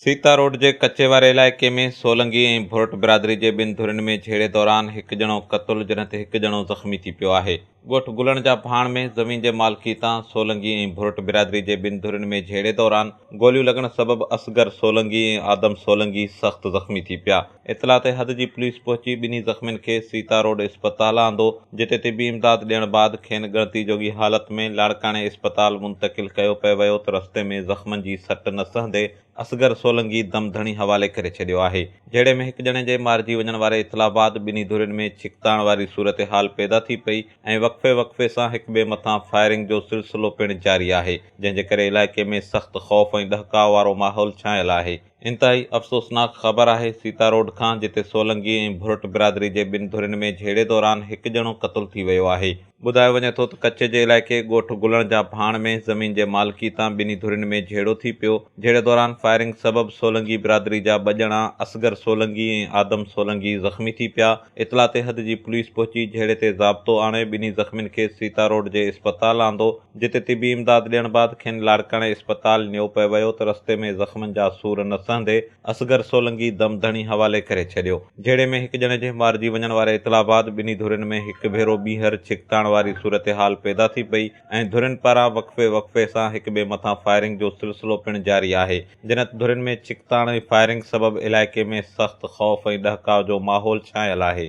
Sita road جي ڪچي واري علائقي ۾ سولنگي ۽ ڀورٽ برادري جي ٻن ڌرين ۾ جهيڙي دوران هڪ ڄڻو قتل جڏهن ته هڪ ڄڻو زخمي ٿي پيو آهي ڳوٺ گلڻ جا ڀاڻ ۾ زمين جي مالڪي تان سولنگي ۽ ڀرٽ برادري جي ٻن ڌرين ۾ جهيڙي دوران گوليون لڳڻ سبب اصغر سولنگي ۽ آدم سولنگي سخت زخمي ٿي پيا. اطلاع تي حد جي پوليس پهچي ٻنهي زخمين کي سيتا روڊ اسپتال آندو جتي طبي امداد ڏيڻ بعد کين ڳڻتي جوڳي حالت ۾ لاڙڪاڻي اسپتال منتقل ڪيو پئي ويو ته رستي ۾ زخمن جي سٽ نه سهندي اصغر سولنگي دم ڌڻي حوالي ڪري ڇڏيو آهي. جهيڙي ۾ هڪ ڄڻي جي مارجي وڃڻ واري اطلاع بعد ٻنهي ڌرين ۾ ڇڪتاڻ واري صورتحال پيدا ٿي پئي ۽ وقفي وقفي سان هڪ ٻئي مٿان فائرنگ جو سلسلو پڻ جاري آهي جنهن جي ڪري علائقي ۾ سخت خوف ۽ ڏهڪاء وارو ماحول ڇانيل آهي. انتهائي افسوسناڪ خبر آهي سيتا روڊ کان جتي سولنگي ۽ ڀرٽ برادري جي ٻن ڌرين ۾ جهيڙي دوران هڪ ڄڻو قتل ٿي ويو آهي. ٻڌايو وڃي ٿو ته ڪچي جي علائقي ڳوٺ گلڻ جا ڀاڻ ۾ زمين جي مالڪي تان ٻنهي ڌرين ۾ جهيڙو ٿي پيو، جهيڙي دوران فائرنگ سبب سولنگي برادري جا ٻه ڄڻا اصغر سولنگي ۽ آدم سولنگي زخمي ٿي پيا، اطلاع تي حد جي پوليس پهچي جهيڙي تي ضابطو آڻي ٻنهي زخمين کي سيتا روڊ جي اسپتال آندو، جتي طبي امداد ڏيڻ بعد کين لاڙڪاڻي اسپتال نيو پئي ويو ته رستي ۾ زخمن جا سور نه سهندي اصغر سولنگي دم ڌڻي حوالي ڪري ڇڏيو. جهيڙي ۾ هڪ ڄڻي جي مارجي وڃڻ واري اطلاع بعد ٻنهي ڌرين ۾ هڪ ڀيرو ٻيهر ڇڪتاڻ واري صورتحال پيدا ٿي پئي ۽ ڌرين پاران وقفي وقفي سان هڪ ٻئي مٿان فائرنگ جو سلسلو پڻ جاري آهي جنت ڌرين ۾ ڇڪتاڻ ۽ فائرنگ سبب علائقي ۾ سخت خوف ۽ ڏهڪاء جو ماحول ڇانيل آهي.